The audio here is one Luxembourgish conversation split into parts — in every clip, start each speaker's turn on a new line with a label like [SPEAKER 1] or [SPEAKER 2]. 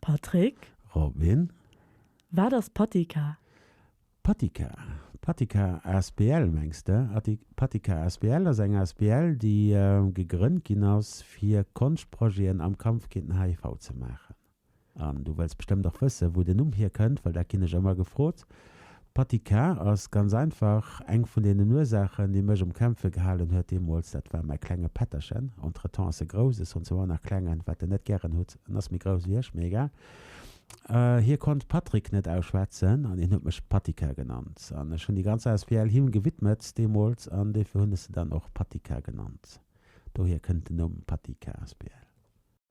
[SPEAKER 1] Patrick. Robin.
[SPEAKER 2] Wat
[SPEAKER 1] ass Patika? Patika?
[SPEAKER 2] Patika asbl mengs de? Patika asbl ass eng asbl, déi gegrënnt ginn ass, fir Konschtprojeten am Kampf géint den HIV ze maachen. An du wëlls bestëmmt och wëssen, wou den Numm hierkënnt, well dat ginn ech ëmmer gefrot. Patika ass ganz einfach eng vun deenen Ursaachen, déi mech um Kämpfe gehalen huet deemools. Dat war mäi klenge Pätterchen. Entretemps ass e grouss, ech hunn zwar och nach Klengen, wat en net gären hutt. En ass méi grouss ewéi ech, mee egal. Hie konnt Patrick net ausschwätzen an hien huet mech Patika genannt. An ech hunn déi ganz asbl him gewidmet deemools an dofir hunn ech se dann och Patika genannt. Dohier kënnt den Numm Patika asbl.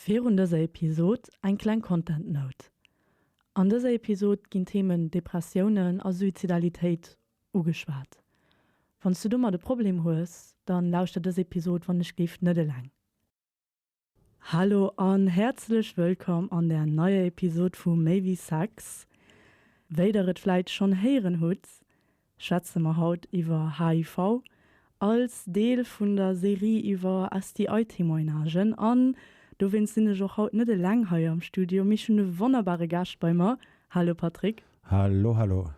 [SPEAKER 1] Virun dëser Episod eng kleng Content Note, An dëser Episod ginn d'Themen Depressiounen a Suizidalitéit ugeschwat. Wanns du domat e Problem hues, dann lauschter dës Episod wann ech géif net eleng. Hallo an häerzlech wëllkomm an der neier Episod vu Méi wéi Sex. Wéi der et vläit schonn héieren hutt, schwätze mer haut iwwer HIV als Deel vun der Serie iwwer STI-Témoignagen. An dowéinst sinn ech och haut net eleng hei am Studio, mee ech hunn e wonnerbare Gaascht bei mer. Hallo Patrick. Hallo, hallo.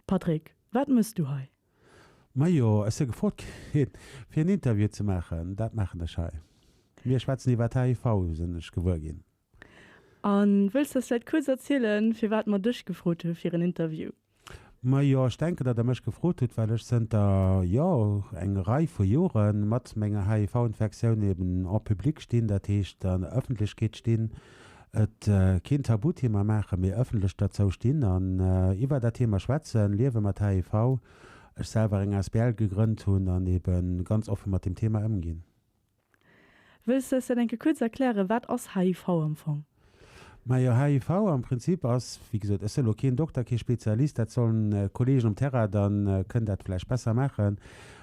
[SPEAKER 2] Patrick,
[SPEAKER 1] wat mëss du hei? Majo,
[SPEAKER 2] ech si gefrot ginn, fir en Interview ze maachen. Dat maachen ech hei. Mir schwätzen iwwer HIV, sinn ech gewuer ginn. An
[SPEAKER 1] wëlls de eis vläit kuerz erzielen, firwat mer dech gefrot hu fir en Interview? Majo, ech
[SPEAKER 2] denken, datt der mech gefrot hutt, well ech zënter, jo, eng Rei vu Jore mat menger HIV-Infektioun eben en public stinn, dat heescht an der Ëffentlechkeet stinn, et keen Tabuthema maachen, mee ëffentlech derzou stinn an iwwer dat Thema schwätzen, Liewe mat HIV, ech selwer eng Asbl gegrënnt hunn an eben ganz offen mat dem Thema ëmginn.
[SPEAKER 1] Wëlls de eis dat enke kuerz erklären, wat ass HIV am Fong? Majo,
[SPEAKER 2] HIV am Prinzip ass, wéi gesot, ech sinn elo keen Dokter, kee Spezialist, dat sollen d'Kollegen um Terrain dann kënnen dat vläicht besser maachen,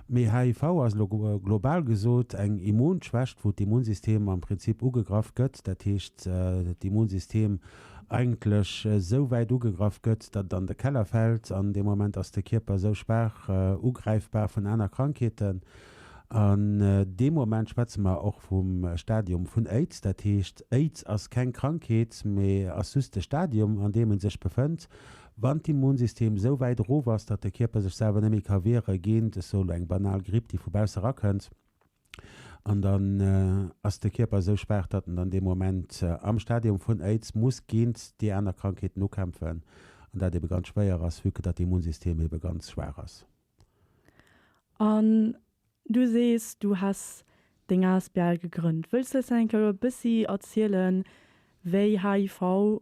[SPEAKER 2] mee HIV ass elo global gesot eng Immunschwächt, wou d'Immunsystem am Prinzip ugegraff gëtt, dat heescht d'Immunsystem eigentlech esou wäit ugegraff gëtt, datt et an de Keller fält an dee Moment ass de Kierper esou schwaach ugräifbar vun aner Krankheeten, An deem Moment schwätze mer och vum Stadium vun Aids. Dat heescht, Aids ass keng Krankheet, mee ass just de Stadium, an deem e sech befënnt, wann d'Immunsystem esou wäit erof ass, datt de Kierper sech selwer net méi ka wiere géint, ech sou elo, eng banal Gripp, déi vu bausse erakënnt. An dann ass de Kierper esou schwaach, datt en dann dee Moment am Stadium vun Aids muss géint déi aner Krankheeten ukämpfen, an dat ebe ganz schwéier ass, vue que datt d'Immunsystem ebe ganz schwaach ass. An
[SPEAKER 1] du sees, du häss deng asbl gegrënnt. Wëlls de eis eng Kéier e bëssi erzielen, wéi HIV,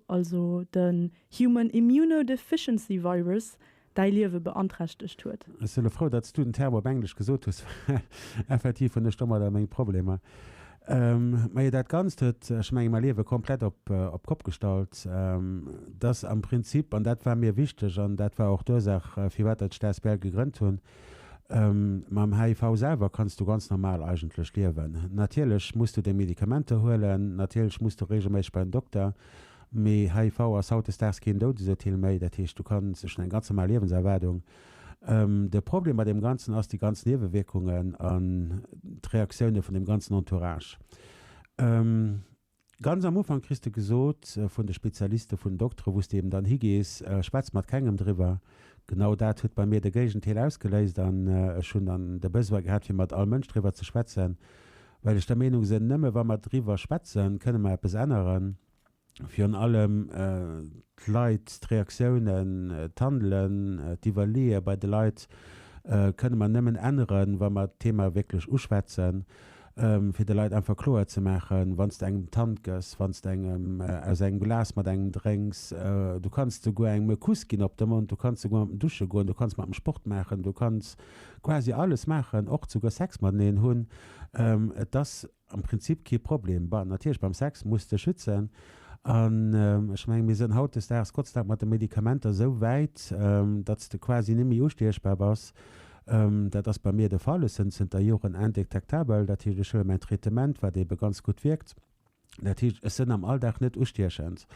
[SPEAKER 1] also de Human Immunodeficiency Virus, däi Liewe beanträchtegt huet? Ech si elo frou, datt s du
[SPEAKER 2] den Term op Englesch gesot hues, well effektiv hunn ech domadder meng Problemer. Majo dat Ganzt huet, ech menge mäi Liewe komplett op d'Kopp gestallt. Dass am Prinzip, an dat war mir wichteg an dat war och d'Ursaach firwat ech d'asbl gegrënnt hunn, mam HIV selwer kanns du ganz normal eigentlech liewen. Natierlech muss du deng Medikamenter huelen, natierlech muss du reegelméisseg bei den Dokter, mee HIV ass hautdesdaags keen Doudesurteel méi. Dat heescht, du kanns, ech hunn eng ganz normal Liewenserwaardung. De Problem bei deem Ganzen ass déi ganz Niewewierkungen an d'Reaktioune vun deem ganzen Entourage. Ganz am Ufank kriss de gesot vun de Spezialiste, vun den Doktere, wou s de eben dann higees, schwätz mat kengem driwwer. Genau dat huet bei mir de Géigendeel ausgeléist an ech hunn dann de Besoin gehat, fir mat all Mënsch driwwer ze schwätzen, well ech der Meenung sinn, nëmme wa mer driwwer schwätzen, kënne mer eppes änneren. Virun allem d'Leit, d'Reaktiounen, d'Handelen, d'Iwwerleeë bei de Leit kënne mer nëmmen änneren, wa mer d'Thema wierklech uschwätzen, fir de Leit einfach kloer ze maachen, wann s de engem d'Hand gëss, wann s de engem aus engem Glas mat engem drénks, du kanns souguer engem e Kuss ginn op de Mond, du kanns souguer mat em dusche goen, du kanns mat em Sport maachen, du kanns quasi alles maachen, och souguer Sex mateneen hunn, et ass am Prinzip kee Problem. Bon, natierlech beim Sex muss de schützen an ech mengen, mir sinn hautdesdaags Gott sei Dank mat de Medikamenter esou wäit, datt s de quasi net méi ustiechbar bass. Dat ass bei mir de Fall. Ech sinn zënter Joren indétectabel, dat heescht, ech huele mäin Traitement, wat eebe ganz gutt wierkt. Dat heescht, ech sinn am Alldag net ustiechend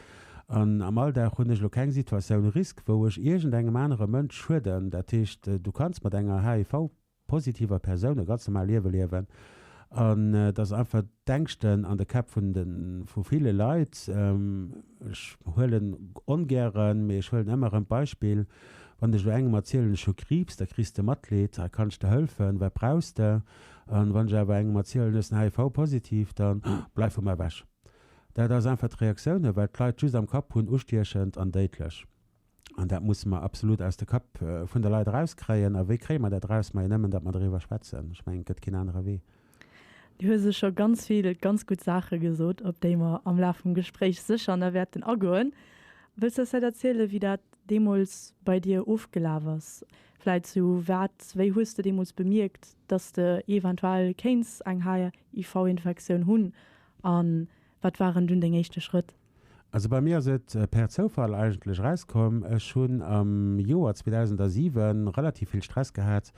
[SPEAKER 2] an am Alldag hunn ech elo keng Situatioun risque, wou ech iergendengem anere Mënsch schueden. Dat heescht, du kanns mat enger HIV. positiv a Persoun e ganz normal Liewe liewen an et ass einfach d'Ängschten an de Käpp vun de vu ville Leit. Ech huelen ongären, mee ech huelen ëmmer erëm d'Beispill, wann ech elo engem erzielen, ech hu Kriibs, da kriss de Matleed, ha kann ech der hëlfen, wat brauchs de? An wann ech awer engem erzielen, ech sinn HIV-positiv, dann, oh, bleif vu mer ewech. Dat ass einfach d'Reaktiounen, well d'Leit just am Kapp hunn, ustiechend an déidlech. An dat musse mer absolut aus de Kapp vun de Leit erauskréien. A wéi kréie mer dat eraus? Majo nëmmen, datt mer doriwwer schwätzen. Ech mengen, et gëtt keen anere Wee. Do hu se
[SPEAKER 1] scho ganz vill ganz gutt Saache gesot, op déi mer am Laf vum Gespréich sécher nach wäerten agoen. Wëlls de eis vläicht erzielen, wéi dat deemools bei dir ofgelaf ass? Vläicht zu wat, wéi hues de deemools bemierkt, datt de eventuell kéints eng HIV-Infektioun hunn? A wat waren dunn deng éischte Schrëtt? Also bei mir ass
[SPEAKER 2] et per Zoufall eigentlech erauskomm. Ech hunn am Joer 2007 relativ vill Stress gehat.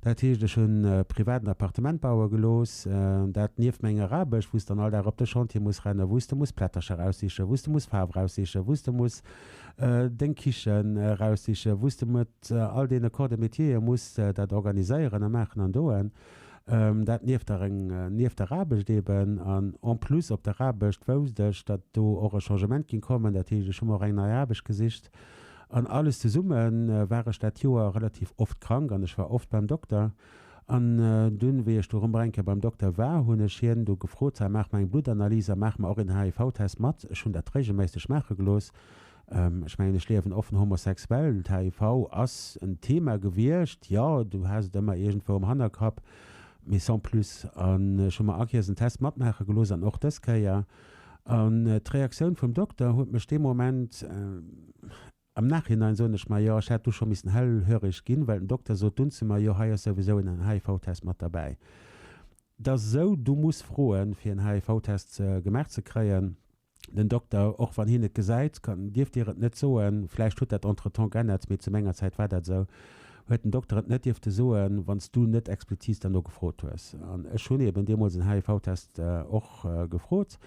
[SPEAKER 2] Dat heescht, ech hunn privat en Appartement baue gelooss. Dat nieft menger Aarbecht, wou s de dann all Dag op de Chantier muss rennen, wou s de muss Plättercher raussichen, wou s de muss Faarf raussichen, wou s de muss deng Kichen raussichen, wou s de mat all deene Corps de métiere muss dat organiséieren a maachen an doen. Dat nieft der eng nieft der Aarbecht eeben. An en plus op der Aarbecht wousst ech, datt do och e Changement géing kommen. Dat heescht, ech hu mer och eng nei Aarbecht gesicht. An alles zesumme war ech dat Joer relativ oft krank an ech war oft beim Dokter. An dunn, wéi ech du erëm eng Kéier beim Dokter war, hunn ech hien du gefrot, Sal, maach mer eng Bluttanalyse a maach mer och een HIV-Test mat. Ech hunn dat reegelméisseg maache gelooss. Ech mengen, ech liewen offen homosexuell. Den HIV ass en Thema gewiescht, jo, du has et ëmmer iergendwou am Hannerkapp, mee sans plus. An ech hu mer Akiers en Test matmaache gelooss an och dës Kéier. An d'Reaktioun vum Dokter huet mech dee Moment, am Nachhinein soen ech mer, jo, ech hätt du scho missen hellhöreg ginn, well den Dokter sot dunn zu mer, jo, hei ass souwisou en HIV-Test mat derbäi. Et ass esou, du muss froen, fir en HIV-Test gemaach ze kréien. Den Dokter, Och wann hien et gesäit, kann, dierft Dir et net soen. Vläicht huet dat entretemps geännert, mee zu menger Zäit war dat esou. Huet den Dokter et net dierfte soen, wann s du net expliziit derno gefrot hues. An ech hunn eeben deemools en HIV-Test och gefrot.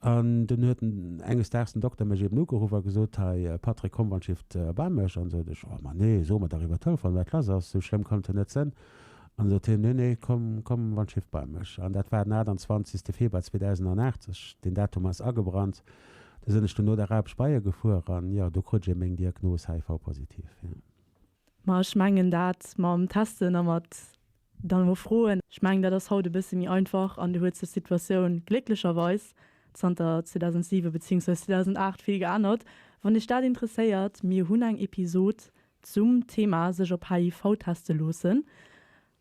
[SPEAKER 2] An dunn huet enges Daags den Dokter mech eeben ugeruff a gesot, Hei Patrick, komm wann Shift erbaa mech. An sot ech, Oh Mann, nee, soe mer dach iwwer Telefon, wat lass ass. Esou schlëmm kann et jo net sënn. An sot hien, Nee, nee, komm, komm an Schiff bei mech. An dat war den 28 Februar 2080. Deen Datum ass agebrannt. Du sinn ech dunn no der Aarbecht bei hie gefuer an, jo, do krut ech e Méng Diagnos HIV-positiv, jo. Ma ech
[SPEAKER 1] mengen dat mam Testen a mat dann elo froen, ech mengen dat ass haut e bësse méi einfach an do huet sech d'Situatioun glécklecherweis zanter 2007 beziéungsweis 2008 vill geännert. Wann Iech dat interesséiert, mir hunn eng Episod zum Thema sech op HIV teste loossen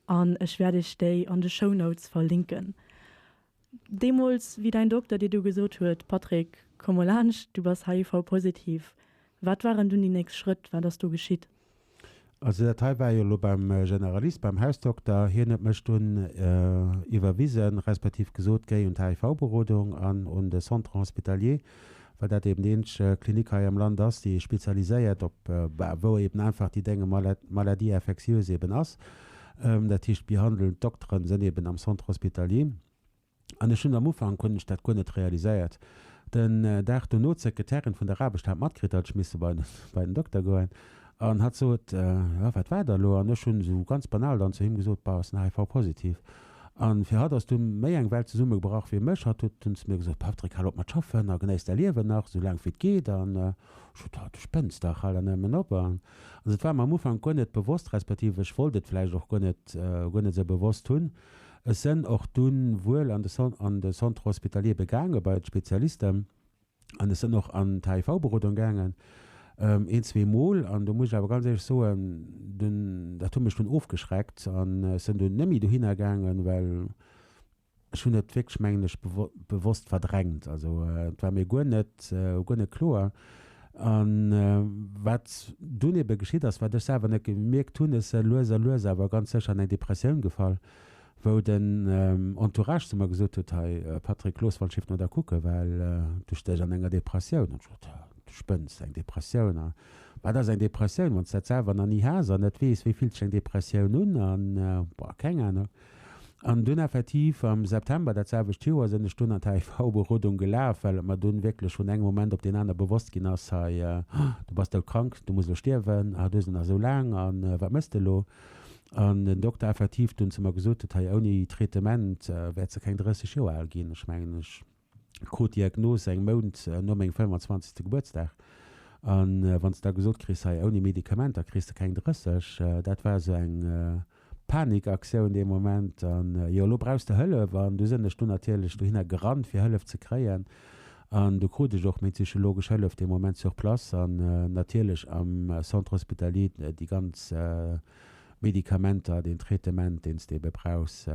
[SPEAKER 1] an ech wäert iech déi an de Show Notes verlinken. Deemools wéi däin Dokter dir du gesot huet, Patrick, komm mol laanscht, du bass HIV positiv, wat waren dunn déi nächst Schrëtt, wat ass du geschitt? Also
[SPEAKER 2] dat hei war jo elo beim Generalist, beim Hausdokter. Hien huet mech dunn iwwerwisen, respektiv gesot, géi un d'HIV-Berodung an un de Centre hospitalier. well dat eben déi eenzeg Klinik hei am Land ass, déi spezialiséiert op, wou eben einfach déi dénge Maladie infectieuse eben ass. Dat heescht, d'behandelnd Dokteren sinn eben am Centre hospitalier. An ech hunn am Ufank hunn ech dat guer net realiséiert. Den Dag dono huet d'Sekretärin vun der Aarbecht-hat matkritt, datt ech misse bei den Dokter goen an hat sot, Jo, wat war da elo? An ech hunn esou ganz banal dann zu him gesot, Bah, ech sinn HIV-positiv. An fir hatt ass dunn méi eng Welt zesummegebrach fir mech. Hatt huet dunn zu mir gesot, Patrick, hal op mat schaffen a genéiss däi Liewen nach esou laang wéi et geet. An ech sot, Haw, du spënns dach, hal der nëmmen op. An also et war mer am Ufank guer net bewosst, respektiv ech wollt et vläicht och guer net, guer net esou bewosst hunn. Ech sen och dunn wuel an de Centre hospitalier be gaangen, bei d'Spezialisten. An ech sënn och an d'HIV-Berodung gaangen, een, zwee Mol. An do muss ech awer ganz éierlech soen, dunn, dat huet mech dunn ofgeschreckt. An ech sënn dunn némmi dohinner gaangen, well ech hunn et wierklech, mengen ech, bewosst verdrängt. Also et war mir guer net, guer net kloer. A wat dunn ebe geschitt ass, wat ech selwer net gemierkt hunn, ech se lues a lues awer ganz sécher an eng Depressioun gefall. wou den Entourage zu mer gesot huet, Hei Patrick, looss wann Schiff no der kucken, well du stéchs an enger Depressioun. Hunn ech gesot, Du spënns, eng Depressioun? A wat ass eng Depressioun, wann s de dat selwer nach ni has an net weess, wéi fillt sech eng Depressioun un? A boah, keng Ahnung. An dunn effektiv am September dat selwecht Joer sinn ech dunn an d'HIV-Berodung gelaf, well et mer dunn wierklech vun engem Moment op deen aner bewosst ginn ass, Hei, du bass doudkrank, du muss elo stierwen, a du hues et nach esou laang, a wat méchs de elo? An den Dokter effektiv dunn zu mer gesot huet, hei ouni Traitement wäert se keng 30 Joer al ginn. Ech mengen, ech krut d'Diagnos eng Mount no mengem 25. Gebuertsdag. A wann s de da gesot kriss, hei ouni Medikamenter kriss de keng 30, dat war esou eng Panikaktioun dee Moment. An jo, elo brauchs de Hëllef. An du sinn ech dunn natierlech dohinner gerannt, fir Hëllef ze kréien. An do krut ech och meng psychologesch Hëllef dee Moment sur place an natierlech am Centre Hospitalier déi ganz Medikamenter, deen Traitement, deen s de ebe brauchs.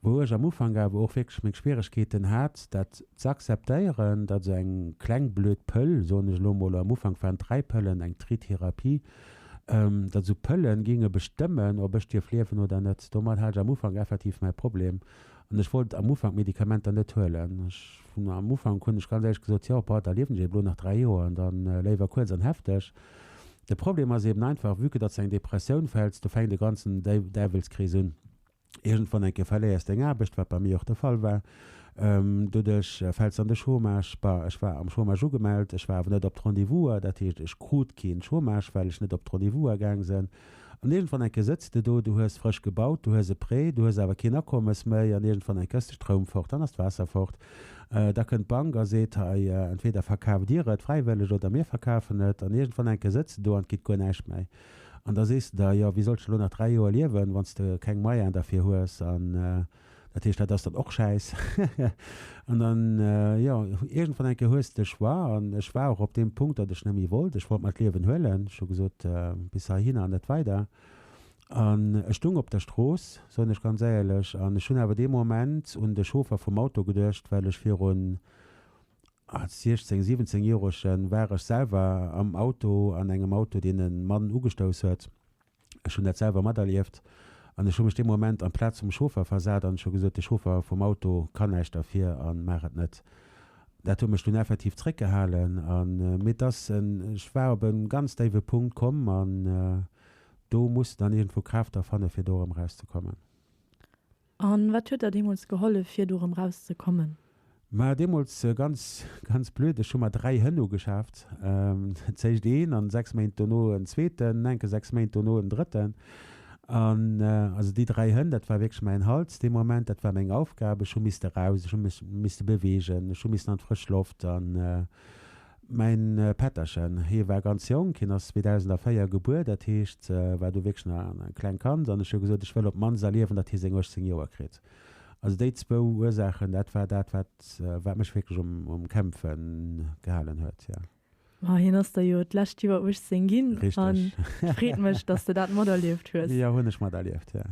[SPEAKER 2] Wou ech am Ufank awer och wierklech meng Schwieregkeeten hat, dat z'akzeptéieren, datt esou eng kleng blöd Pëll, soen ech elo emol, am Ufank waren et 3 Pëllen, eng Tritherapie, datt esou Pëlle géinge bestëmmen, ob ech dierf liewen oder net. Domat hat ech am Ufank effektiv mäi Problem An ech wollt am Ufank d'Medikamenter net huelen. Ech hunn am Ufank, hunn ech ganz éierlech gesot, jo, pa, da liewen ech eben elo nach dräi Joer an da léiwer kuerz an hefteg. De Problem ass eben einfach, vue que datt s de eng Depressioun fäls, do fänkt e ganzen Däiwelskrees un. Iergendwann eng Kéier verléiers de eng Aarbecht, wat bei mir och de Fall war. Doduerch fäls de an de Chômage. Bah, ech war am Chômage ugemellt, ech war awer net op d'Rendez-vouser. Dat heescht, ech krut keen Chômage, well ech net op d'Rendez-vouser gaang sinn. An iergendwann enke sëtz de do, du hues frësch gebaut, du hues e Prêt, du hues awer keen Akommes méi an iergendwann enke ass de Stroum fort, dann ass d'Waasser fort. Da kënnt d'Bank a seet, Hei, entweder verkaaft Dir et fräiwëlleg oder mir verkafen et. An iergendwann enke sëtz de do an et geet guer näischt méi. An da sees de der, Jo, wéi sollt ech elo nach dräi Joer liewen, wann s de keng Moyenen derfir hues? Dat heescht, dat ass dann och schäiss. An dann, jo, iergendwann eng Kéier hues de de Choix. An ech war och op deem Punkt, datt ech net méi wollt. Ech wollt mer d'Liewen huelen. Ech hu gesot, bis heihinner an net weider. An ech stoung op der Strooss, soen ech ganz éierlech. An ech hunn awer dee Moment un de Chauffer vum Auto geduecht, well ech virun, als 16, 17 Joeregen war ech selwer am Auto, an engem Auto, deen e Mann ugestouss huet. Ech hunn dat selwer materlieft an ech hu mech dee Moment an d'Plaz vum Chauffer versat an ech hu gesot, de Chauffer vum Auto kann näischt derfir a maach et net. Dat huet mech dunn effektiv zréckgehalen a mee dass en, ech war op e ganz déiwe Punkt komm an do muss en dann iergendwou Kraaft erfanne fir do erëm erauszekommen.
[SPEAKER 1] A wat huet der deemools gehollef, fir do erëm raus ze kommen? Ma deemools,
[SPEAKER 2] ganz, ganz blöd, ech hu mer dräi Hënn ugeschaaft. Zéischt een an sechs Méint dono en zweeten, enke sechs Méint dono en drëtten. An also déi dräi Hënn, dat war wierklech mäin Hals dee Moment, dat war meng Aufgab. Ech hu misste raus, ech hu mech misste beweegen, ech hu missen an d'frësch Loft. An. Mäin Pätterchen, hee war ganz jonk, hien ass 2004 gebuer, dat heescht war do wierklech nach e kleng Kand, an ech hu gesot, ech wëll op d'mannst erliewen, datt hie seng 18 Joer kritt. Also déi zwou Ursaachen, dat war dat, wat wat mech wierklech um um Kämpfe gehalen huet, jo. Ma hien ass der jo
[SPEAKER 1] d'lescht Joer 18 ginn, an
[SPEAKER 2] et freet
[SPEAKER 1] mech, datt s de dat materlieft hues. Jo, hunn ech materlieft,
[SPEAKER 2] jo.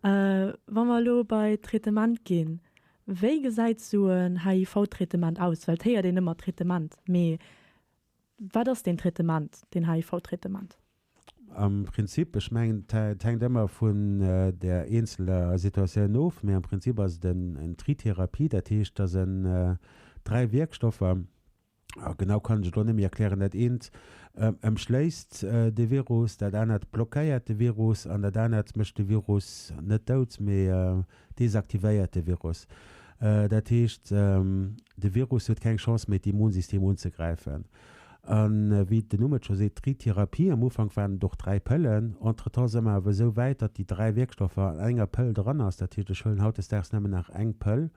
[SPEAKER 2] Wa
[SPEAKER 1] mer elo bei d'Traitement ginn, Wéi gesäit esou en HIV-Traitement aus? Well et héiert een ëmmer Traitement, mee wat ass deen Traitement, deen HIV-Traitement? Am
[SPEAKER 2] Prinzip, ech mengen et hänkt ëmmer vun der eenzeler Situatioun of, mee am Prinzip ass et en Tritherapie, dat heescht, dass en dräi Wierkstoffer, Ah, genau kann ech et och net méi erklären. Dat eent ëmschléisst de Virus, dat anert blockéiert de Virus an dat anert mécht de Virus net dout, mee desaktivéiert de Virus. Dat heescht, de Virus huet keng Chance méi, d'Immunsystem unzegräifen. A wéi den Numm et scho seet, dréi Therapie, am Ufank waren et och dräi Pëllen, entretemps si mer awer esou wäit, datt déi dräi Wierkstoffer an enger Pëll dran ass. Dat heescht, ech huelen hautdesdaags nëmmen nach eng Pëll.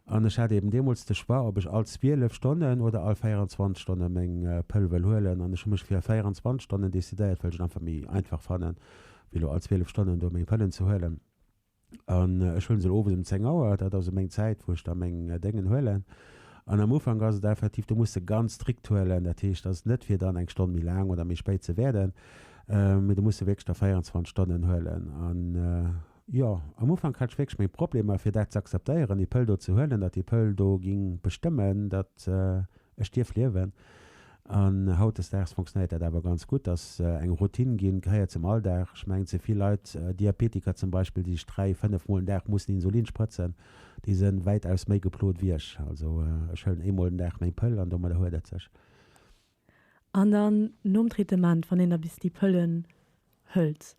[SPEAKER 2] An ech hat eben deemools de Choix, ob ech all 12 Stonnen oder all 24 Stonne meng Pëll wëll huelen. An ech hu mech fir 24 Stonnen decidéiert, well ech et einfach méi einfach fannen, wéi elo all 12 Stonnen do meng Pëllen ze huelen. An ech huele se elo owes um 10 Auer, dat ass esou meng Zäit, wou ech da meng Déngen huelen. An am Ufank ass et effektiv, do muss s de ganz strikt huelen. Dat heescht, et ass net, fir dann eng Stonn méi laang oder méi spéit ze wäerden, mee do muss s de wierklech da 24 Stonnen huelen. An. Jo, am Ufank hat ech wierklech meng Problemer fir dat ze akzeptéieren, ee Pëll do ze huelen, datt ee Pëll do géing bestëmmen, datt ech dierf liewen. An hautdesdaags funktionéiert dat awer ganz gutt, ass eng Routine ginn, gehéiert zum Alldag. Ech mengen, ze vill Leit, Diabetiker zum Beispill, déi sech dräi, fënnef Mol den Dag mussen Insulin sprëtzen, déi si wäitaus méi geplot wéi ech. Also ech huelen eemol den Dag meng Pëll an domadder huet et sech.
[SPEAKER 1] An dann nom Traitement, wann een da bis déi Pëllen hëlt,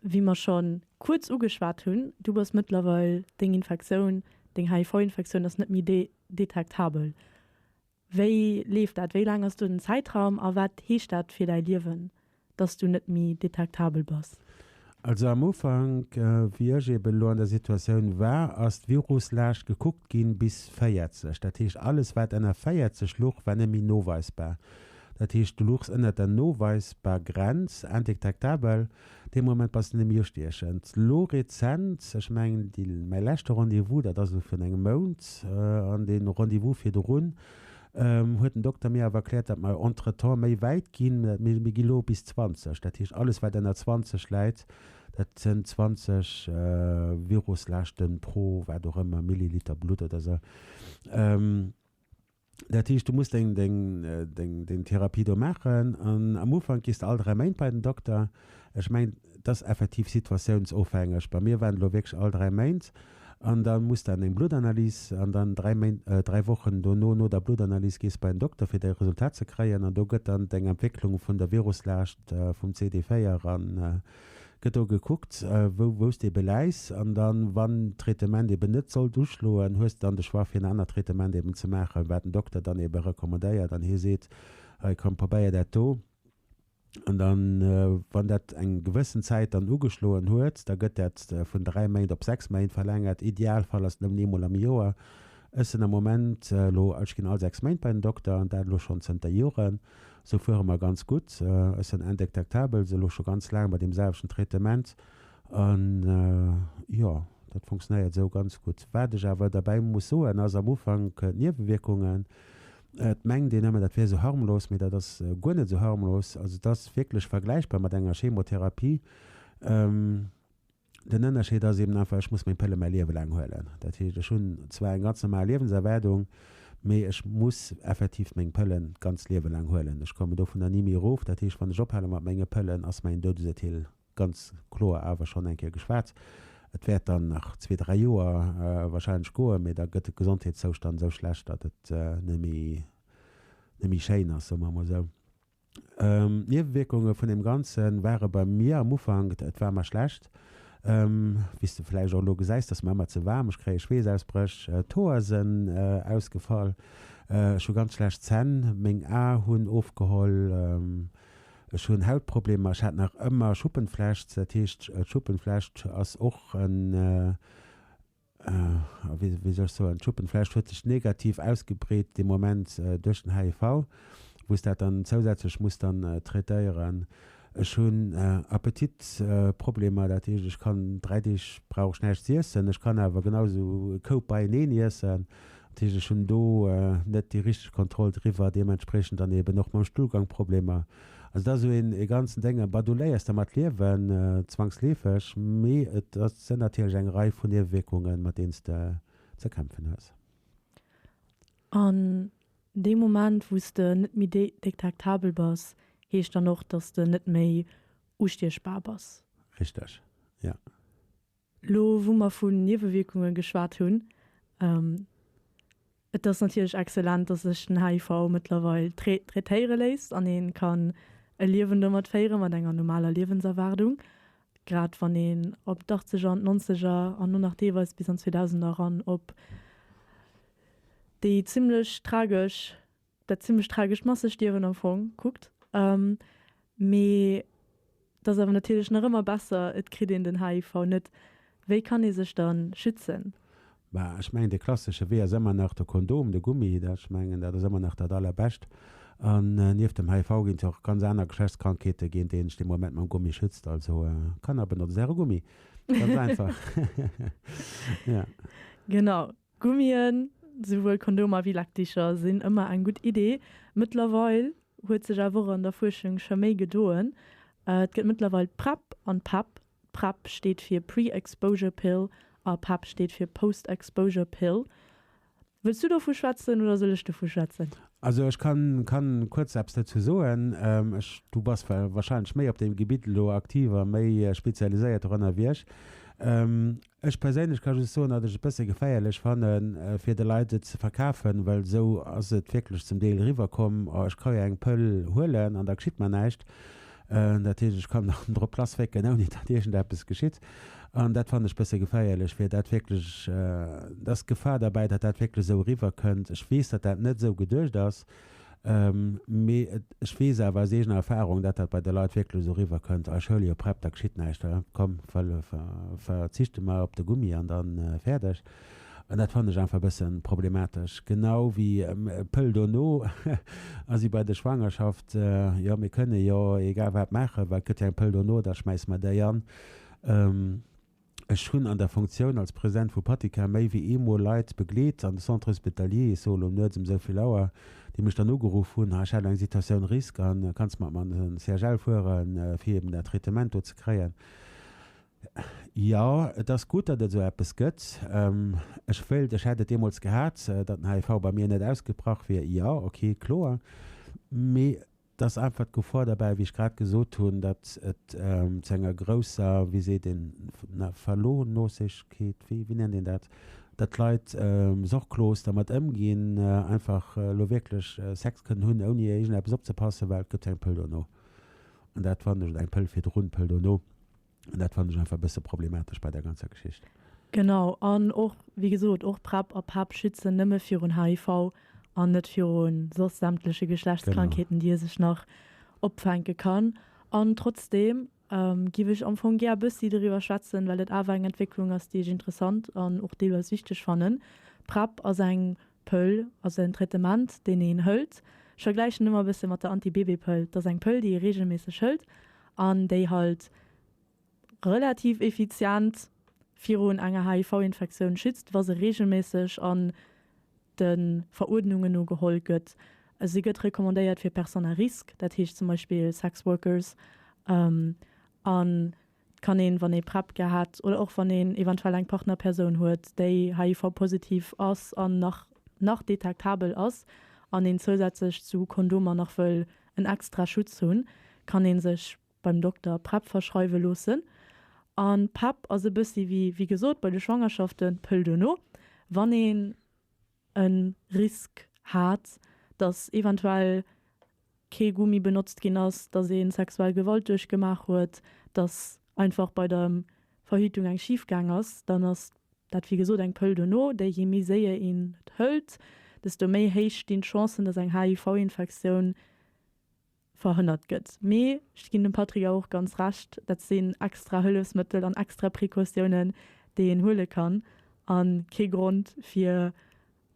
[SPEAKER 1] Wéi mer schonn kuerz ugeschwat hunn, du bass mëttlerweil, deng Infektioun, deng HIV-Infektioun ass net méi detektabel. Wéi leeft dat? Wéi laang ass do den Zäitraum a wat heescht dat fir däi Liewen, dass du net méi detektabel bass? Also am
[SPEAKER 2] Ufank, wéi ech eben elo an der Situatioun war, ass d'Viruslaascht gekuckt ginn bis 40. Dat heescht, alles wat ënner 40 luch, war net méi noweisbar. Dat heescht du luchs ënnert der noweisbar Grenz, indétectabel, dee Moment bass de nëmme jo stiechend. Lo rezent, ech mengen déi, mäi leschte Rendez-vous, dat ass elo virun engem Mount, an dee Rendez-vous virdrun, huet den Dokter mir awer erkläert, datt mer entretemps méi wäit ginn, mir gi lo bis 20, dat heescht alles wat ënner 20 läit, dat sënn 20 Viruslaaschten pro wat och ëmmer Milliliter Blutt oder sou. Dat heescht, du muss deng, deng, deng, deng Therapie do maachen an am Ufank gees de all dräi Méint bei den Dokter. Ech mengen, et ass effektiv situatiounsofhängeg. Bei mir waren et elo wierklech all dräi Méint an da muss de an eng Bluttanalys an dann dräi Méint, dräi Wochen dono, no der Bluttanalys, gees de bei den Dokter, fir däi Resultat ze kréien an do gëtt dann deng Entwécklung vun der Viruslaascht vum CD4 an, gëtt do gekuckt, wou wous de beläis an dann, wann d'Traitement eben net sollt uschloen, hues de dann de Choix fir en anert Traitement eben ze maachen, wat den Dokter dann eben recommandéiert an hie seet, hei komm probéier dat do. An dann, wann dat eng gewëssen Zäit dann ugeschloen huet, da gëtt dat vun 3 Méint op 6 Méint verlängert, Idealfall ass et nëmmen eemol am Joer. Ech sinn am Moment elo, ech ginn all 6 Méint bei den Dokter an dat elo schonn zënter Joren. Sou fuere mer ganz gutt. Ech sen indektektabel, se elo scho ganz laang bei deem selwechten Traitement an jo, dat funktionéiert esou ganz gutt. Wat ech awer derbäi muss soen ass am Ufank d'Niewewierkungen. Et mengt een ëmmer dat wier esou harmlos, mee dat ass guer net esou harmlos. Also et ass wierklech vergläichbar mat enger Chemotherapie. Den Ënnerscheed ass eben einfach, ech muss meng Pëlle mäi Liewe laang huelen. Dat heescht, ech hunn zwar eng ganz normal Liewenserwaardung, mee ech muss effektiv meng Pëllen d'ganzt Liewe laang huelen. Ech kommen dovunner ni méi erof. Dat heescht, wann ech ophale mat menge Pëllen, ass mäin Doudesurteel ganz kloer. Awer schonn eng Kéier geschwat, et wäert dann nach zwee, dräi Joer warscheinlech goen, mee da gëtt de Gesondheetszoustand esou schlecht, datt et net méi schéin ass, soe mer emol esou. Niewewierkunge vun deem Ganze ware bei mir am Ufank, et war mar schlecht, wéi s de vläicht och elo gesäis, datt mar ëmmer ze waarm, ech kréie Schweessausbréch, d'Hoer sinn ausgefall, ech hu ganz schlecht Zänn, meng A hunn ofgeholl, ech hunn Hautproblemer, ech hat nach ëmmer Schuppenflecht, dat heescht d'Schuppenflecht ass och en Wéi sech sou an d'Schuppen flecht huet sech negativ ausgebreet dee Moment duerch den HIV, wou s dat dann zousätzlech muss dann traitéieren. Ech hunn Appetitproblemer, dat heescht ech kann 3 Deeg brauch ech näischt z'iessen, ech kann awer genau sou e Koup beieneen iessen. Dat heescht ech hunn do net déi richteg Kontroll driwwer, deementspreechend dann eeben och mam Stullgang Problemer. Also dat ass esou ee ganzen Déng, bah do léiers de mat liewen, zwangsleefeg, mee et sinn natierlech eng Rei vun Niewewierkungen, mat deenen s de ze kämpfen hues. An
[SPEAKER 1] deem Moment, wou s de net méi detektabel bass, heescht dann och, dass de net méi ustiechbar bass? Richteg,
[SPEAKER 2] jo. Lo
[SPEAKER 1] wou mer vun Niewewierkunge geschwat hunn, Et ass natierlech excellent, datt sech den HIV mëttlerweil traitéiere léisst an ee ka e Liewen domat féiere mat enger normaler Liewenserwaardung, grad wann een op d'Achtzeger an d'Nonzeger an lo nach deelweis bis an d'Zweedausender eran op déi zimmlech tragesch dat zimlech tragescht Massestierwen am Fong kuckt, mee et ass awer natierlech nach ëmmer besser, et kritt een den HIV net. Wéi kann ee sech dann schützen? Bah, ech mengen,
[SPEAKER 2] dee klassesche Wee ass ëmmer nach de Kondom, de Gummi, dat, ech mengen, dat ass ëmmer nach dat Allerbescht. An nieft dem HIV ginn et jo och ganz aner Geschlechtskrankheeten, géint déi een sech dee Moment mam Gummi schützt. Also, Kanner, benotzt äre Gummi, ganz einfach. Genau,
[SPEAKER 1] Gummien, souwuel Kondomer wéi Lakticher, sinn ëmmer eng gutt Idee. Mëttlerweil huet sech awer och an der Fuerschung scho méi gedoen. Et gëtt mëttlerweil PrEP an PEP. PrEP steet fir Pre-Exposure Pill a PEP steet fir Post-Exposure Pill. Wëlls du dovu schwätzen oder soll ech dovu schwätzen? Also
[SPEAKER 2] ech kann kuerz eppes dozou soen. Ech, du bass wahrscheinlech méi op deem Gebitt elo aktiv a méi spezialiséiert och ënnerwierch. Ech perséinlech ka just soen, datt ech et e bësse geféierlech fanne fir de Leit et ze verkafen, well esou ass et wierklech zum Deel eriwwerkomm, oh ech ka jo eng Pëll huelen an da geschitt mer näischt, dat heescht ech kann nach drop lassfécken ouni datt iergendeppes geschitt. An dat fannen ech e bësse geféierlech, fir dat wierklech, et ass d'Gefahr derbäi, datt dat wierklech esou eriwwerkënnt. Ech weess, datt dat net esou geduecht ass. Mee ech weess awer aus eegener Erfahrung, datt dat bei de Leit wierklech esou eriwwer kënnt, Eis Schoul, jo prep, da geschitt näischt, komm, verzichte mer op de Gummi an da fäerdeg. An dat fannen ech einfach e bësse problematesch. Genau wéi Pëll dono a si bei der Schwangerschaft, jo mir kënne jo egal wat maachen, well et gëtt jo eng Pëll dono, da schmäisse mer déi an. Ech hunn an der Funktioun als President vu Patika méi wéi eemol Leit begleet an de Centre Hospitalier, et se elo nuets ëm esou vill Auer, déi mech dann ugeruff hunn, ha ech hat eng Situation risque an kanns mat mer an den CHL fueren, fir eben dat Traitement do ze kréien. Jo, et ass gutt, datt et esou eppes gëtt. Ech wéilt, ech hätt et deemools gehat, datt den HIV bei mir net ausgebrach wier. Jo, okay, kloer. Mee Et ass einfach d'Gefor derbäi, wéi ech grad gesot hunn, datt et zu enger grousser, wéi seet een, Verlorenlosegkeet, wéi nennt een dat, datt d'Leit sorglos dermat ëmginn, einfach elo wierklech Sex kënnen hunn, ouni iergendeppes opzepassen, well et gëtt eng Pëll dono. An dat fannen ech, oder eng Pëll virdrun, Pëll dono. An dat fannen ech einfach e bësse problematesch bei der ganzer Geschicht. Genau, an
[SPEAKER 1] och, wéi gesot, och PrEP a PAP schützen nëmme virun HIV an net virun soss sämtleche Geschlechtskrankheeten, déi ee sech nach opfänke kann. An trotzdeem géif ech am Fong gär e bëssi doriwwer schwätzen, well et awer eng Entwécklung ass, déi ech interessant an och deelweis wichteg fannen. PrEP ass eng Pëll ass en Traitement deen een hëlt. Ech vergläichen ëmmer e bësse mat der Anti-Bébé-Pëll. Dat ass eng Pëll déi ee reegelméisseg hëlt an déi halt relativ effizient virun enger HIV-Infektioun schützt, wa se reegelméisseg an de Veruerdnunge no geholl gëtt. Se gëtt recommandéiert fir Personnes à risque, dat heescht zum Beispill Sex Workers an Et kann een, wann ee PrEP gehat oder och wann een eventuell eng Partnerpersoun huet, déi HIV-positiv ass an nach nach detektabel ass an een zousätzlech zu Kondomer nach wëll en extra Schutz hunn, kann ee sech beim Dokter PrEP verschreiwe loossen. A PrEP ass e bëssi wéi, wéi gesot, bei de Schwangerschaften, d'Pëll duerno, wann ee. e Risk hat, datt eventuell kee Gummi benotzt ginn ass, datt ee sexuell Gewalt duerchgemaach huet, datt einfach bei der Verhütung eng schif gaang ass, dann ass dat wéi gesot eng Pëll duerno, déi jee méi séier een et hëlt, desto méi héich stinn d'Chancen, datt eng HIV-Infektioun verhënnert gëtt. Mee ech ginn dem Patrick awer och ganz Recht, dat sinn extra Hëllefsmëttel an extra Precautiounen, déi een huele kann, a kee Grond, fir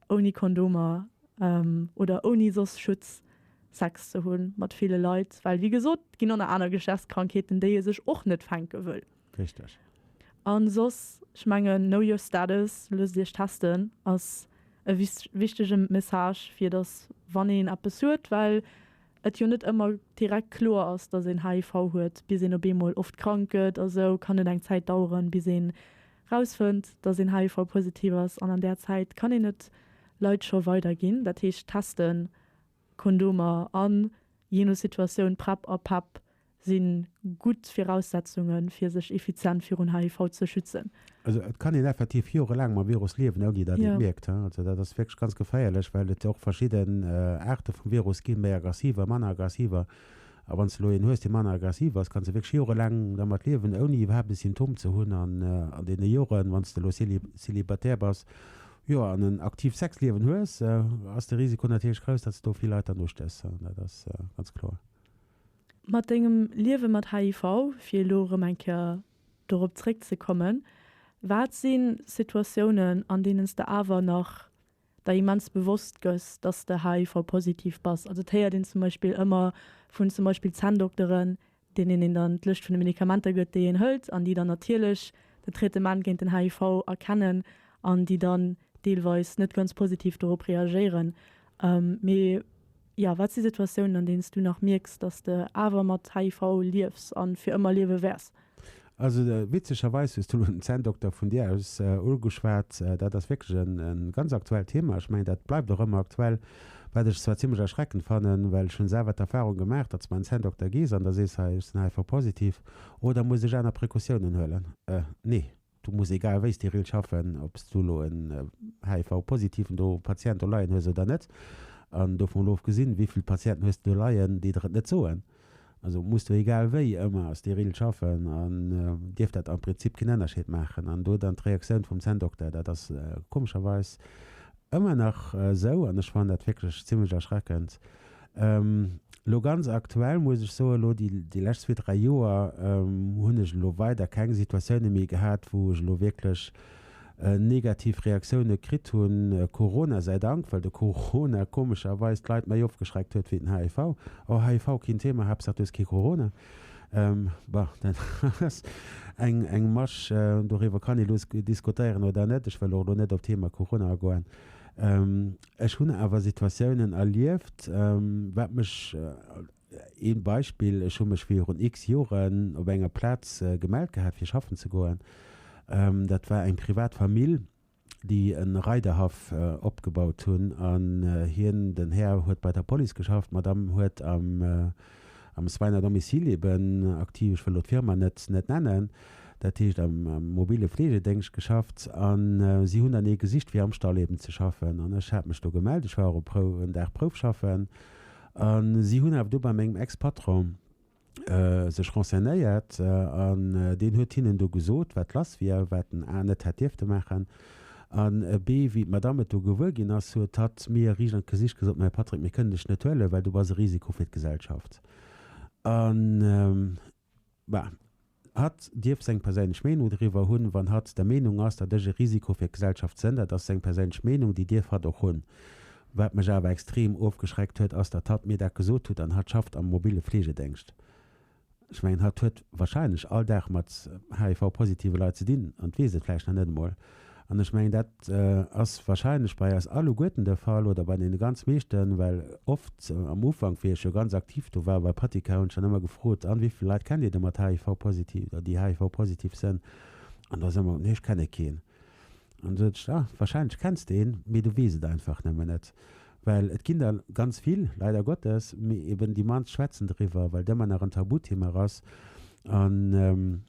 [SPEAKER 1] ouni Kondomer oder ouni soss Schutz Sex ze hu mat ville Leit, well, wéi gesot, et ginn och nach aner Geschlechtskrankheeten, déi ee sech och net fänke wëll. Richteg.
[SPEAKER 2] An
[SPEAKER 1] soss, ech mengen Know your status, loosst iech testen, ass e wichtege Message fir dass wann een eppes huet, well et jo net ëmmer direkt kloer ass, dass een HIV huet, bis een op eemol oft krank gëtt a sou, kann et eng Zäit daueren bis een rausfënnt, dass een HIV positiv ass an an där Zäit kann een et Leit scho weider ginn. Dat heescht testen, Kondomer an, jee no Situatioun, Prep a Pep si gutt Viraussetzunge fir sech effizient virun HIV ze schützen. Also et kann een
[SPEAKER 2] effektiv jorelaang mam Virus liewen, ouni datt ee et mierkt. Also dat ass wierklech ganz geféierlech, well et och verschidden Aarte vum Virus ginn, méi aggressiver, manner aggressiver. A wann s de elo een hues, dee manner aggressiv ass, kanns de wierklech jorelaang domat liewen, ouni iwwerhaapt e Symptom ze hunn. An an deene Joren, wann s de elo célibataire bass, jo, an en aktiivt Sexliewen hues, ass de Risiko natierlech grouss, datt s de do vill Leit dann ustéchs. Dat ass ganz kloer. Mat
[SPEAKER 1] dengem Liewe mat HIV, fir elo erëm eng Kéier dorop zréckzekommen, wat si Situatiounen, an deenen s de awer nach der immens bewosst gëss, datt s de HIV-positiv bass? Also et héiert een zum Beispill ëmmer vun zum Beispill Zänndokteren, deenen een dann d'Lëscht vun de Medikamenter gëtt, déi een hëlt, an déi dann natierlech den Traitement géint den HIV erkennen, an déi dann deelweis net ganz positiv dorop reagéieren. Mee Jo, wat si Situatiounen, an deenen s du nach mierks, datt s de awer mat HIV liefs a fir ëmmer liewe wäers? Also
[SPEAKER 2] witzegerweis hues du elo den Zänndokter vun dir aus ugeschwat. Dat ass wierklech e ganz aktuellt Thema. Ech mengen, dat bleift och ëmmer aktuell, wat ech zwar zimmlech erschreckend fannen, well ech hunn selwer d'Erfarung gemaach, datt s bei en Zänndokter gees an da sees, hei ech sinn HIV-positiv, oh da muss ech aner Precautiounen huelen. Nee. Du muss egal wéi steril schaffen, ob s du elo en HIV-Positiven do, Patient do leien hues oder net. An dovun elo ofgesinn, wéi vill Patienten hues de do leien, déi der et net soen, also muss du egal wéi ëmmer steril schaffen an dierf dat am Prinzip keen Ënnerscheed maachen. An do dann d'Reaktioun vum Zänndokter, dat ass komescherweis ëmmer nach esou an ech fannen dat wierklech zimlech erschreckend, Elo ganz aktuell muss ech soen, elo déi, déi lescht zwee, dräi Joer hunn ech elo weider keng Situatioune méi gehat, wou ech elo wierklech negativ Reaktioune kritt hunn. Corona säi Dank, well de Corona komescherweis d'Leit méi ofgeschreckt huet wéi den HIV. Oh, HIV keen Thema, haaptsaach du hues kee Corona. Bon, dat ass eng, eng Masch, doriwwer kann ee lo diskutéieren oder net. Ech wëll och elo net op d'Thema Corona agoen. Ech hunn awer Situatiounen erlieft, wat mech, ee Beispill, ech hu mech virun x Joren op enger Plaz gemellt gehat fir schaffen ze goen, dat war eng privat Famill, déi e Reiderhaff opgebaut hunn an hien, den Här, huet bei der Police geschafft, d'Madame huet am. Am Soins à domicile eben aktiv, ech wëll do d'Firma net nennen, dat heescht am mobile Fleegedéngscht geschafft. A si hunn dann ee gesicht fir am Stall eben ze schaffen. An ech hat mech do gemellt, ech war och e Prouf, en Dag Prouf schaffen. A si hunn awer do bei mengem Ex-Patron sech renseignéiert an deen huet hinnen do gesot, wat lass wier, wat den A net hätt dierfte maachen. An ebe, wéi d'Madame et do gewuer ginn ass, huet hatt mir riicht an d'Gesicht gesot, Mäi Patrick, mir kënnen dech net huelen, well du bass e Risiko fir d'Gesellschaft. An, bah, hatt dierf seng perséinlech Meenung doriwwer hunn. Wann hatt der Meenung ass, datt ech e Risiko fir d'Gesellschaft sënn, dat ass seng perséinlech Meenung, déi dierf hatt och hunn. Wat mech awer extrem ofgeschreckt huet, ass, datt hatt mir dat gesot hutt. An hatt schafft am mobille Fleegedéngscht. Ech mengen, hatt huet wahrscheinlech all Dag mat HIV-positive Leit ze dinn an weess et vläicht nach net emol. An ech mengen, dat ass wahrscheinlech bei eis alleguerten de Fall oder bei deene ganz meeschten, well oft am Ufank, wéi ech jo ganz aktiv do war bei Patika, hunn ech dann ëmmer gefrot, A wéi vill Leit kennt Dir de mat HIV-positiv oder déi HIV-positiv sënn? An do ass ëmmer, Nee, ech kenne keen. An sot ech, ah, wahrscheinlech kenns de en, mee du weess et einfach nëmmen net. Well et ginn der ganz vill, leider Gottes, mee eben déi mannst schwätzen driwwer, well et ëmmer nach en Tabuthema ass. An,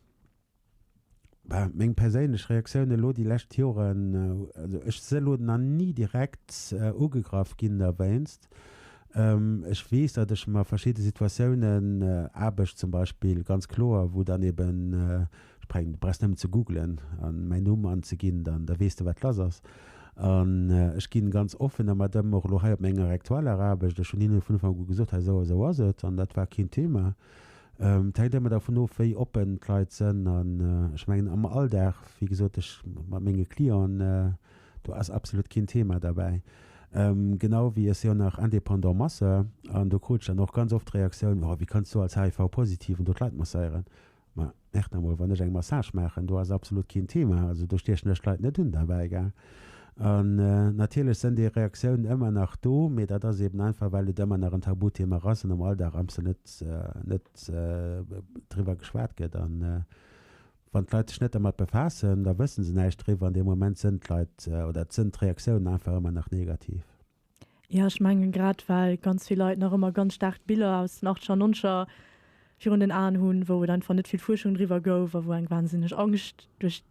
[SPEAKER 2] bah, meng perséinlech Reaktioun elo déi lescht Joren, also ech si elo nach ni direkt ugegraff ginn derwéinst. Ech weess, datt ech mer verschidde Situatiounen, Aarbecht zum Beispill, ganz kloer, wou dann eben, Spreng, du brauchs nëmmen ze googlen an mäin Numm anzeginn, dann da weess de wat lass ass. An ech ginn ganz offen der Madame och elo hei op menger rektueller Aarbecht, ech hunn hinnen vun Ufank u gesot, hei esou a esou ass et an dat war keen Thema. Et hänkt ëmmer dervun of wéi oppen d'Leit sënn an ech mengen am Alldag, wéi gesot, ech mat menge Clienten, do ass absolut keen Thema derbäi. Genau wéi, et si jo nach indépendant Masseur an do krut ech dann och ganz oft d'Reaktioun, oh wéi kanns du als HIV-Positiven do d'Leit masseieren. Ma mierkt emol, wann ech eng Massage maachen, do ass absolut keen Thema. Also do stiechen ech d'Leit net un derbäi, gell. An natierlech sënn déi Reaktiounen ëmmer nach do, mee dat ass eben einfach, well et ëmmer nach en Tabuthema ass an am Alldag amsler net net driwwer geschwat gëtt. An wann d'Leit sech net dermat befaassen, da wësse se näischt driwwer an dee Moment sënn d'Leit oder sënn d'Reaktiounen einfach ëmmer nach negativ. Ja, ech
[SPEAKER 1] mengen, grad well ganz vill Leit nach ëmmer ganz staark d'Biller aus den Achtscher, Nonscher virun den Aen hunn, wou et einfach net vill Fuerschung driwwer gouf a wou eng wahnsinneg Angscht duerch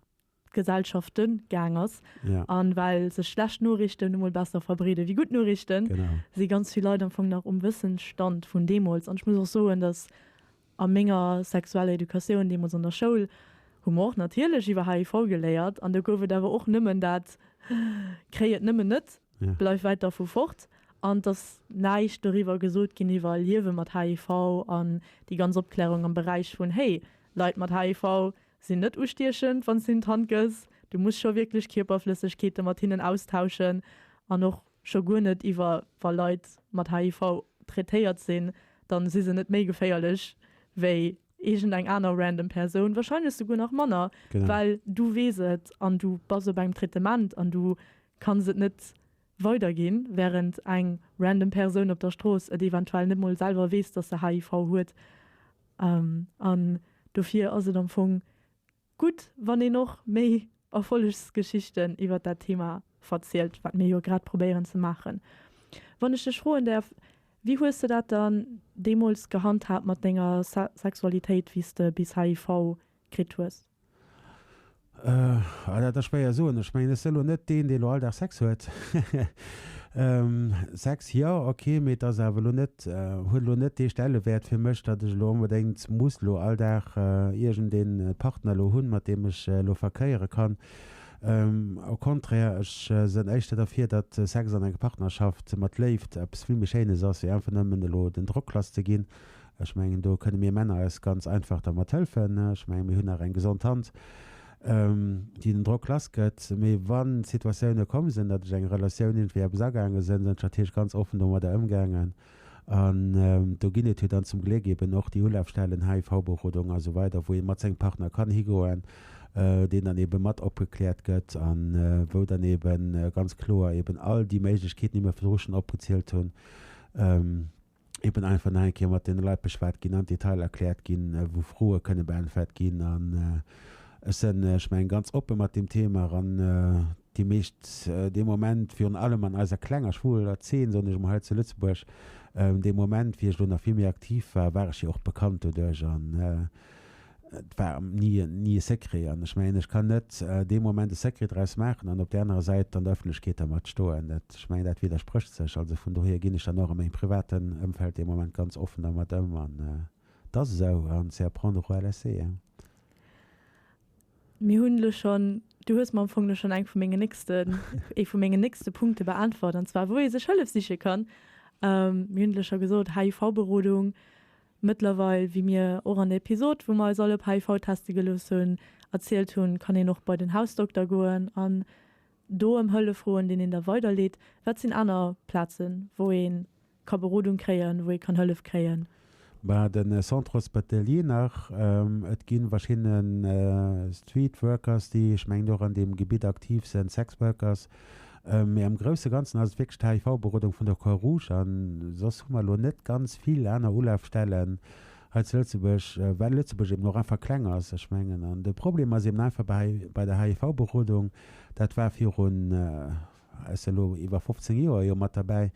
[SPEAKER 1] d'Gesellschafte gaang ass. Ja. A well
[SPEAKER 2] sech
[SPEAKER 1] schlecht Noriichten nu mol besser verbreeden, wéi gutt Noriichten, si ganz vill
[SPEAKER 2] Leit am Fong
[SPEAKER 1] nach um Wëssensstand vun deemools. An ech muss och soen, dass. A menger sexueller Educatioun deemools an der Schoul hu mer och natierlech iwwer HIV geléiert an do gouf et awer och nëmmen dat, Kréi et nëmmen net, bleif wäit dervu
[SPEAKER 2] fort.
[SPEAKER 1] An et ass näischt doriwwer gesot ginn iwwer Liewe mat HIV an déi ganz Opklärung am Beräich vun, Hey, Leit mat HIV sinn net ustiechend, wann s de hinne d'Hand gëss, du muss scho wierklech Kierperflëssegkeete mat hinnen austauschen an och, Scho guer net iwwer wa Leit mat HIV traitéiert sinn, dann si se net méi geféierlech wéi iergend eng aner random Persoun, wahrscheinlech souguer nach manner, Genau. well du
[SPEAKER 2] weess
[SPEAKER 1] et an du bass op engem Traitement an du kanns et net weiderginn, während eng random Persoun op der Strooss et eventuell net mol selwer weess, dass se HIV huet. An dofir ass et am Fong Gutt, wann een och méi Erfollegsgeschichten iwwer dat Thema verzielt, wat mir jo grad probéieren ze maachen. Wann ech dech froen däerf, wéi hues de dat dann deemools gehandhaabt mat denger Sexualitéit, wéi s de bis HIV kritt hues?
[SPEAKER 2] Oh, dat ass schwéier soen. Ech mengen, ech sinn elo net deen, deen elo all Dag Sex huet. Sex, jo, ok, mee et ass awer elo net Et huet elo net dee Stellewäert fir mech, datt ech elo onbedéngt muss elo all Dag iergend ee Partner elo hunn, mat deem ech elo verkéiere kann. Au contraire, ech sen éischter derfir, datt Sex an enger Partnerschaft mat Léift eppes vill méi Schéines ass, wéi einfach nëmmen elo den Drock lass ze ginn. Ech mengen, do kënne mir Männer eis ganz einfach dermat hëlfen. Ech mengen, mir hunn nach eng gesond Hand. déi den Drock lass gëtt, mee wann Situatioune komm sinn, datt ech eng Relatioun iergendwéi eppes agaange sinn, sinn ech natierlech ganz offen domadder ëmgaangen an do ginn et jo dann zum Gléck eben och déi Ulafstellen, HIV-Berodung a sou weider, wou ee mat sengem Partner kann higoen, deen dann eben mat opgekläert gëtt a wou dann eben ganz kloer eben all déi Méiglechkeeten, déi mir virdru schonn opgezielt hunn, eben einfach nach eng Kéier mat deene Leit beschwat ginn an d'Detailer erkläert ginn, wou Froe kënne beäntwert ginn. An ech sinn, ech mengen, ganz oppe mat deem Thema an déi meescht dee Moment, virun allem an eiser klenger, schwuler Zeen, soen ech emol hei zu Lëtzebuerg, dee Moment, wéi ech elo nach vill méi aktiv war, war ech jo och bekannt doduerch. An Et war ni e Secret. An ech mengen, ech kann net dee Moment e Secret draus maachen an op där anerer Säit an der Ëffentlechkeet dermat stoen. Ech mengen, dat widdersprécht sech. Also vun dohier ginn ech dann och a mengem privaten Ëmfeld dee Moment ganz offen dermat ëm. An et ass esou an c'est à prendre ou à laisser.
[SPEAKER 1] Mir hunn elo schonn, du hues mer am Fong elo schonn eng vu mengen nächsten, ee vu mengen nächste Punkte beäntwert, an zwar wou ee sech Hëllef siche kann. Mir hunn elo scho gesot, HIV-Berodung, Mëttlerweil, wéi mir och an der Episod, wou mer eis all op HIV teste gelooss hunn, erzielt hunn, kann een och bei den Hausdokter goen an do ëm Hëllef froen, deen een da weiderleet. Wat sinn aner Plazen, wou ee ka Berodung kréien, wou ee kann Hëllef kréien? Bah, de
[SPEAKER 2] Centre Hospitalier nach. Et gi verschidden Street Workers, déi, ech mengen, och an deem Gebitt aktiv sinn, Sex Workers, Mee am grousse Ganzen ass et wierklech d'HIV-Berodung vun der Croix Rouge an soss hu mer elo net ganz vill aner Ulafstellen hei zu Lëtzebuerg, well Lëtzebuerg eben och einfach kleng ass. Ech mengen, an de Problem ass eben einfach bei hei, bei der HIV-Berodung, dat war virun, s elo iwwer 15 Joer jo mat derbäi,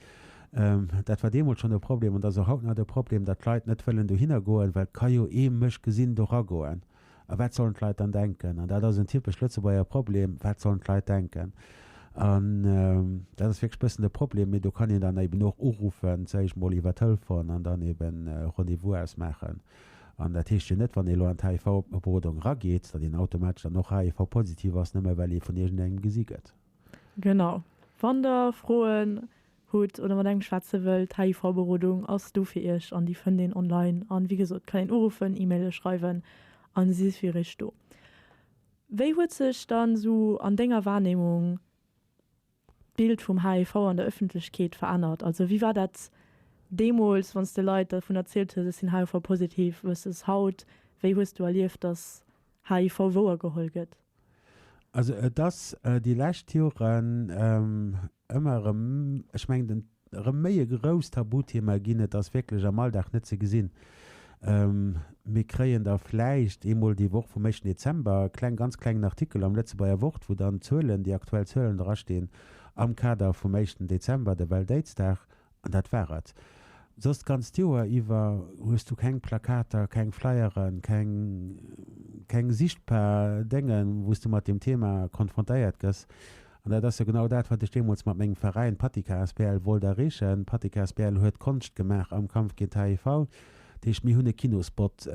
[SPEAKER 2] dat war deemools schonn e Problem an dat ass och haut nach de Problem, datt d'Leit net wëllen dohinner goen, well et ka jo ee mech gesinn doragoen. A wat sollen d'Leit dann denken? An dat ass en typesch Lëtzebuerger Problem, Wat sollen d'Leit denken? An dat ass wierklech e bëssen de Problem. Mee do kann een dann eben och uruffen, säg ech mol, iwwer Telefon an dann eben e Rendez-vous ausmaachen. An dat heescht jo net, wann ee elo an d'HIV-Berodung erageet, datt een automatesch dann och HIV-positiv ass, nëmme well ee vun iergendengem gesi gëtt. Genau.
[SPEAKER 1] Wann der Froen hutt oder mat engem schwätze wëllt, d'HIV-Berodung ass do fir Iech an déi fënnt een online. An wéi gesot, kann een uruffen, E-Maile schreiwen an si si fir Iech do. Wéi huet sech dann esou an denger Wahrnehmung d'Bild vum HIV an der Ëffentlechkeet verännert? Also wéi war dat deemools, wann s de Leit dervun erzielt hues, ech sinn HIV-positiv, versus haut? Wéi hues du erlieft, dass HIV wouer geholl gëtt? Also
[SPEAKER 2] et ass déi lescht Joren ëmmer erëm, ech mengen, en erëm méi e grousst Tabuthema ginn. Et ass wierklech am Alldag net ze gesinn. Mir kréien da vläicht eemol déi Woch vum éischten Dezember e kleng, ganz klengen Artikel am Lëtzebuerger Wort, wou dann d'Zuelen, déi aktuell Zuelen drastinn am Kader vum éischten Dezember, der Welt-Aids-Dag. An dat war et. Soss d'ganzt Joer iwwer hues du keng Plakater, keng Flyeren, keng keng sichtbar Déngen, wou s du mat deem Thema konfrontéiert gëss. An dat ass jo genau dat, wat ech deemools mat mengem Veräin Pattika asbl wollt erreechen. Pattika asbl huet Konscht gemaach am Kampf géint d'HIV. Dat heescht, mir hunn e Kinospot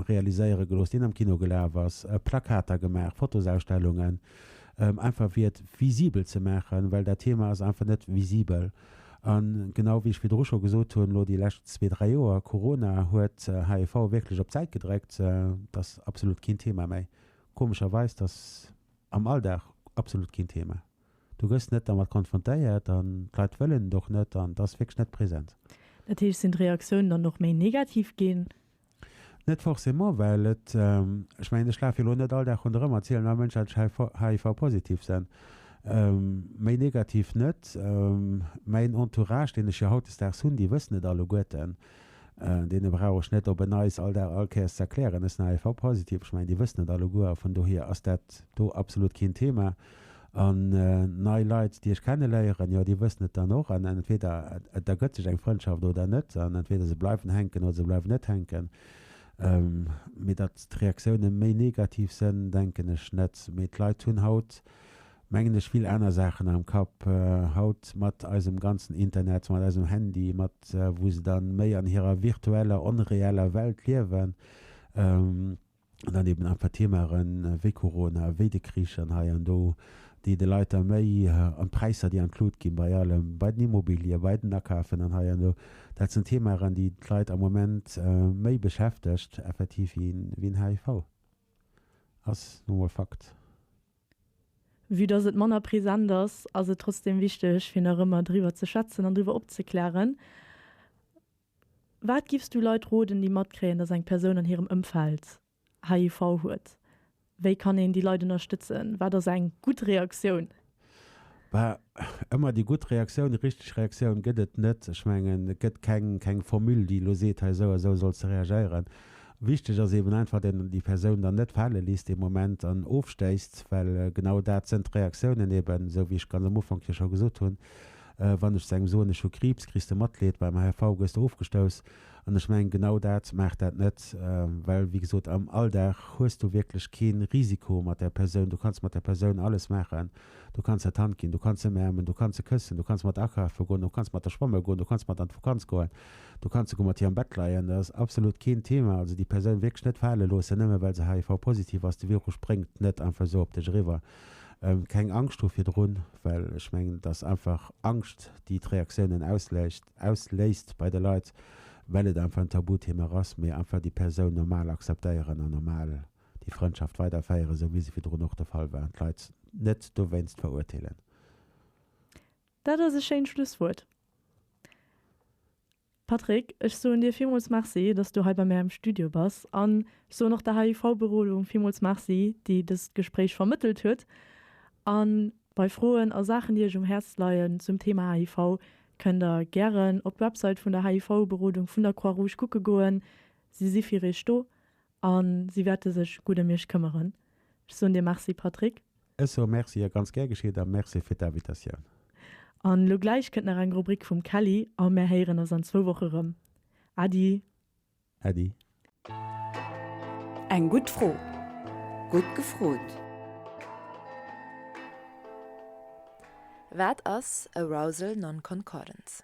[SPEAKER 2] realiséiere gelooss, deen am Kino gelaf ass, Plakater gemaach, Fotosausstellungen, einfach fir et visibel ze maachen, well dat Thema ass einfach net visibel. A genau wéi ech virdru scho gesot hunn, elo déi lescht zwee, dräi Joer, Corona huet HIV wierklech op d'Säit gedréckt. Et ass absolut keen Thema méi. Komescherweis, et ass am Alldag absolut keen Thema. Du gëss net dermat konfrontéiert an d'Leit wëllen et och net an et ass wierklech net present. Dat heescht, sinn
[SPEAKER 1] d'Reaktiounen dann och méi negativ ginn? Net
[SPEAKER 2] forcément, well et, ech mengen, ech laf jo elo net all Dag ronderëm a zielen all Mënsch als HIV-positiv sen, méi negativ net. Mäin Entourage, deen ech jo hautdesdaags hunn, déi wëssen et alleguerten, deene brauch ech net op en Neis all Dag all Kéiers ze erklären, ech sen HIV-positiv. Ech mengen, déi wëssen et alleguer a vun dohier ass dat do absolut keen Thema. An nei Leit, déi ech kenneléieren, jo, déi wëssen et dann och. An entweder et ergëtt sech eng Frëndschaft oder net. An entweder se bleiwen hänken oder se bleiwen net hänken. Mee datt d'Reaktioune méi negativ sënn, denken ech net. Mee d'Leit hunn haut, mengen ech, vill aner Saachen am Kapp. Haut mat eisem ganzen Internet, mat eisem Handy, mat wou se da méi an hirer virtueller, onreeller Welt liewen, an dann eben einfach Themaren wéi Corona, wéi de Krich an hei an do, déi de Leit da méi, an d'Präisser, déi includ ginn bei allem, bei den Immobilië, bei den Akafen an hei an do, dat sinn Themaren, déi d'Leit am Moment méi beschäftegt effektiv wéi en HIV. Ass nu emol Fakt.
[SPEAKER 1] Vue dass et manner present ass, ass et trotzdeem wichteg fir nach ëmmer driwwer ze schwätzen an driwwer opzeklären. Wat giffs du Leit roden, déi matkréien, dass eng Persoun an hirem Ëmfeld HIV huet? Wéi kann een déi Leit ënnerstëtzen? Wat ass eng gutt Reaktioun? Bah,
[SPEAKER 2] ëmmer déi gutt Reaktioun, déi richteg Reaktioun gëtt et net. Ech mengen, et gëtt keng Formule, déi elo seet, hei esou a esou solls de reagéieren. Wichteg ass eben einfach, dass een déi Persoun dann net fale léisst dee Moment an ofstéisst, well genau dat sënn d'Reaktiounen eben, esou wéi ech ganz am Ufank jo scho gesot hunn, Wann ech zu engem soen, ech hu Kriibs, kriss de Matleed, beim HIV gëss de ofgestouss. An ech mengen, genau dat maach dat net, well, wéi gesot, am Alldag hues du wierklech kee Risiko mat där Persoun. Du kanns mat där Persoun alles maachen, du kanns hatt d'Hand ginn, du kanns ëmäermen, du kanns se këssen, du kanns mat der akafe goen, du kanns mat der schwamme goen, du kanns mat der an d'Vakanz goen, du kanns esouguer mat hir am Bett leien, dat ass absolut keen Thema. Also déi Persoun wierklech net fale loossen, nëmme well se HIV-positiv ass. De Virus spréngt net einfach esou op dech eriwwer. Keng Angscht hu virdrun, well ech mengen, et ass einfach Angscht, déi d'Reaktiounen ausléist bei de Leit, well et einfach en Tabuthema ass. Mee einfach déi Persoun normal akzeptéieren an normal déi Frëndschaft weiderféieren, esou wéi se virdrun och de Fall war, an d'Leit net dowéinst verurteelen.
[SPEAKER 1] Dat ass e schéint Schlusswuert. Patrick, ech soen dir villmools Merci, dass s du hei bei mär am Studio bass. An ech soen och der HIV-Berodung villmools Merci, déi dëst Gespréich vermëttelt huet. A bei Froen a Saachen, déi iech um Häerz leien zum Thema HIV, kënnt der gären op d'Website vun der HIV-Berodung vun der Croix-Rouge kucke goen. Si si fir iech do. A si wäerte sech gutt ëm iech këmmeren. Ech soen dir Merci, Patrick. Ech soe Merci, jo,
[SPEAKER 2] ganz gär geschitt, a Merci fir d'Invitatioun. A lo
[SPEAKER 1] gläich kënnt nach eng Rubrik vum Kelly a mär héieren eis an zwou Woche rëm. Äddi! Äddi!
[SPEAKER 3] Eng gutt Fro, gutt gefrot! Wat ass Arousal Nonconcordance?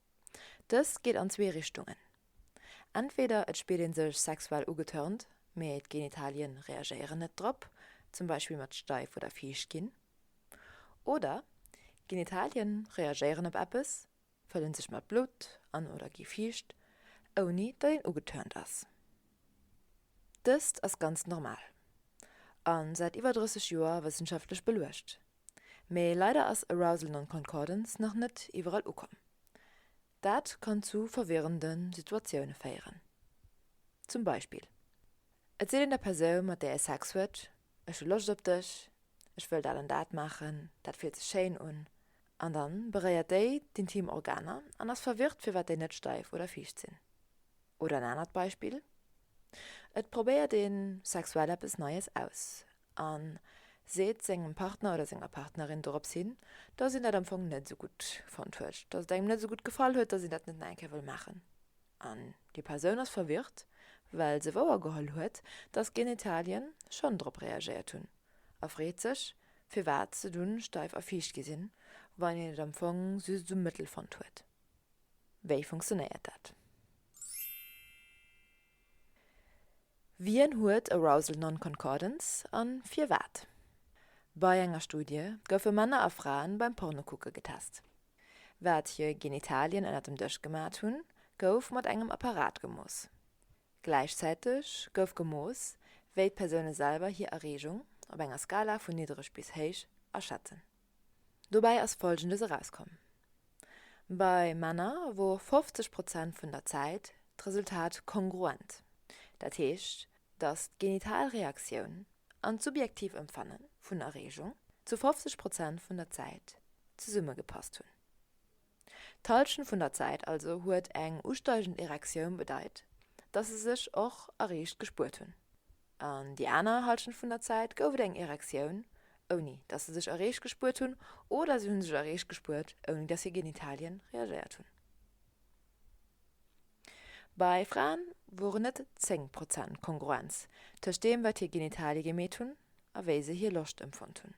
[SPEAKER 3] Dëst geet an zwee Richtungen, Entweder et spillt een sech sexuell ugetörnt, mee d'Genitalien reagéieren net drop, zum Beispill mat steif oder fiicht ginn. Oder d'Genitalien reagéieren op eppes, fëllen sech mat Blutt an oder gi fiicht, ouni datt een ugetörnt ass. Dëst ass ganz normal an säit iwwer 30 Joer wëssenschaftlech beluecht. Mee leider ass Arousal Non-Concordance nach net iwwerall ukomm. Dat kann zu verwirrende Situatioune féieren. Zum Beispill, et seet een der Persoun, mat där ee Sex huet, Ech hu Loscht op dech, ech wëll dat an dat maachen, dat fillt sech schéin un. An da beréiert déi d'intim Organer an ass verwirrt, firwat déi net steif oder fiicht sinn. Oder en anert Beispill, et probéiert ee sexuell eppes Neies aus, a seet sengem Partner oder senger Partnerin dorops hin, dass een dat am Fong net esou gutt fonnt huet, dass et engem net esou gutt gefall huet, dass een dat net nach eng Kéier wëll maachen. An déi Persoun ass verwirrt, well se wouergeholl huet, dass Genitalien schonn drop reagéiert hunn, a freet sech, firwat se dunn steif a fiicht gi sinn, wann een et am Fong just esou mëttel fonnt huet. Wéi funktionéiert dat? Wien huet Arousal Non-Concordance a firwat? Bei enger Studie goufe Männer a Fraen beim Pornokucke getest. Wat hir Genitalien ënner dem Dësch gemat hunn, gouf mat engem Apparat gemooss. Gläichzäiteg gouf gemooss, wéi d'Persoune selwer hir Erreegung op enger Skala vun niddereg bis héich aschätzen. Dobäi ass Folgendes erauskomm, Bei Männer wor 50 Prozent vun der Zäit d'Resultat kongruent, dat heescht, datt d'genital Reaktioun an d'subjektiv Empfanne vun Erreegung zu 50 Prozent vun der Zäit zesummegepasst hunn. D'Halschent vun der Zäit also huet eng usteigend Erektioun bedeit, datt se sech och erreecht gespuert hunn. An déi aner Halschent vun der Zäit gouf et eng Erektioun, ouni datt se sech erreecht gespuert hunn, oder si hu sech erreecht gespuert, ouni datt hir Genitalien reagéiert hunn. Bei Fraen woren et 10 Prozent Kongruenz tëscht deem, wat hir Genitalie gemeet hunn a wéi se hir Loscht empfonnt hunn.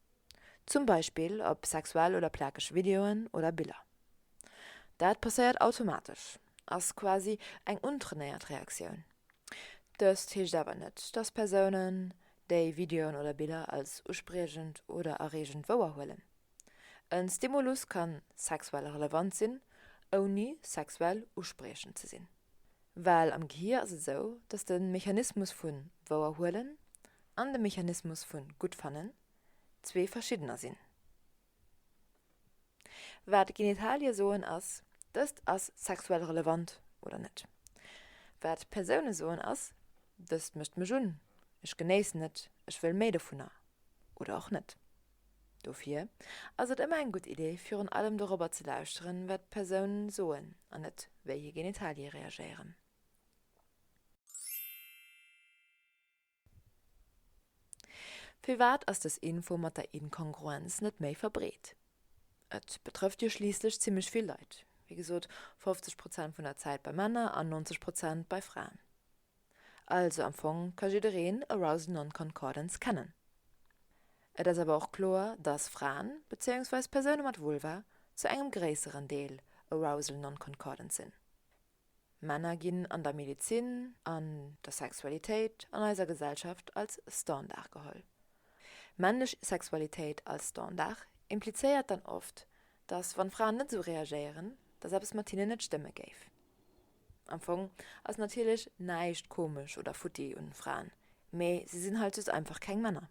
[SPEAKER 3] Zum Beispill op sexuell oder plakeg Videoen oder Biller. Dat passéiert automatesch, ass quasi eng untrainéiert Reaktioun. Dëst heescht awer net, dass Persounen déi Videoen oder Biller als uspriechend oder erreegend wouerhuelen. E Stimulus ka sexuell relevant sinn, ouni sexuell uspriechend ze sinn. Well am Gehir ass et esou, dass de Mechanismus vu Wouerhuelen an de Mechanismus vu Guttfannen zwee verschiddener sinn. Wat Genitalie soen ass, dëst ass sexuell relevant oder net. Wat Persoune soen ass, dëst mécht mech un, ech genéissen et, ech wëll méi dovunner oder och net. Dofir ass et ëmmer eng gutt Idee, virun allem dorobber ze lauschteren, wat d'Persoun soen an net wéi hir Genitalie reagéieren. Firwat ass dës Info mat der Inkongruenz net méi verbreet? Et betrëfft jo schliisslech zimmlech vill Leit, wéi gesot 50 Prozent vun der Zäit bei Männer an 90 Prozent bei Fraen. Also am Fong ka jiddereen Arousal Non-Concordance kennen. Et ass awer och kloer, dass Fraen, bezéiungsweis Persoune mat Vulva, zu engem gréisseren Deel Arousal Non-Concordant sinn. Männer ginn an der Medezin, an der Sexualitéit, an eiser Gesellschaft als Standard geholl. Männlech Sexualitéit als Standard implizéiert dann oft, dass wann Fraen net esou reagéieren, dass eppes mat hinnen net stëmme géif. Am Fong ass natierlech näischt komesch oder futti un Fraen, mee si sinn halt just einfach keng Männer.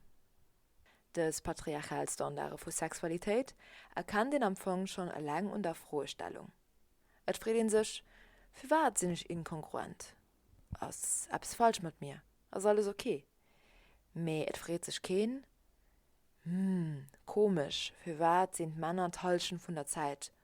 [SPEAKER 3] Dës patriarchal Standarde vu Sexualitéit erkennt een am Fong schonn eleng un der Froestellung. Et freet ee sech, Firwat sinn ech inkongruent? Ass eppes falsch mat mir? Ass alles ok? Mee et freet sech keen, Hm, komesch, firwat sinn d'Männer d'Hallschent vun der Zäit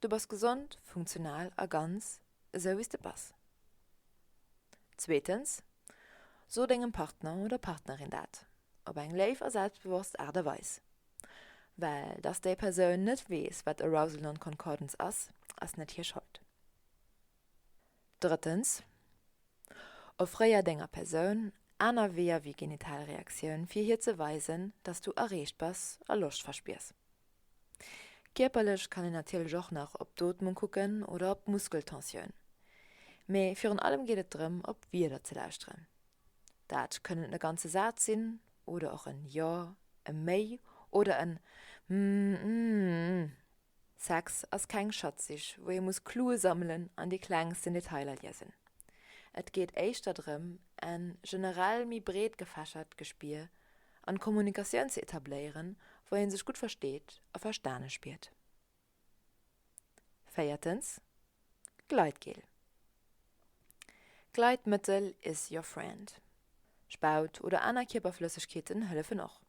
[SPEAKER 3] Du bass gesond, funktional a ganz esou wéi s de bass. Zweetens, So dengem Partner oder Partnerin dat op eng léif a selbstbewosst Aart a Weis. Well dass déi Persoun net weess, wat Arousal Non-Concordance ass, ass net hir Schold. Drëttens, Offréier denger Persoun aner Weeër wéi genital Reaktioun, fir hir ze weisen, dass du erreecht bass a Loscht verspiers. Kierperlech kann een natierlech och nach op d'Ootmung kucken oder op d'Muskeltensioun. Mee virun allem geet et drëm, op Wierder ze lauschteren. Dat kënnen e ganze Saz sinn oder och en Jo, e Méi oder en Mmmmm. Sex ass keng Schatzsich, wou ee muss Clue sammelen an déi klengsten Detailer liesen. Et geet éischter drëm, en generell méi breet gefächert Gespier an Kommunikatioun ze etabléieren, wou een sech gutt versteet a verstane spiert. Véiertens, Gleitgel. Gleitmëttel is your friend. Spaut oder aner Kierperflëssegkeeten hëllefen och.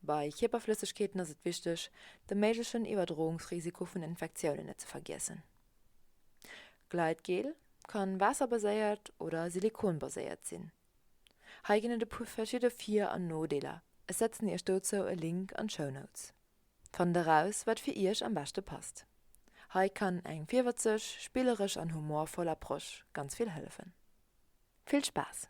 [SPEAKER 3] Bei Kierperflëssegkeeten ass et wichteg, de méiglechen Iwwerdroungsrisiko vun Infektiounen net ze vergiessen. Gleitgel ka waasserbaséiert oder silikonbaséiert sinn. Hei ginn et e puer verschidde Vir an Nodeeler, ech setzen iech dozou e Link an d'Show Notes. Fannt eraus, wat fir iech am beschte passt. Hei kann eng virwëtzeg, spilleresch an humorvoll Approche ganz vill hëllefen. Vill Spaass!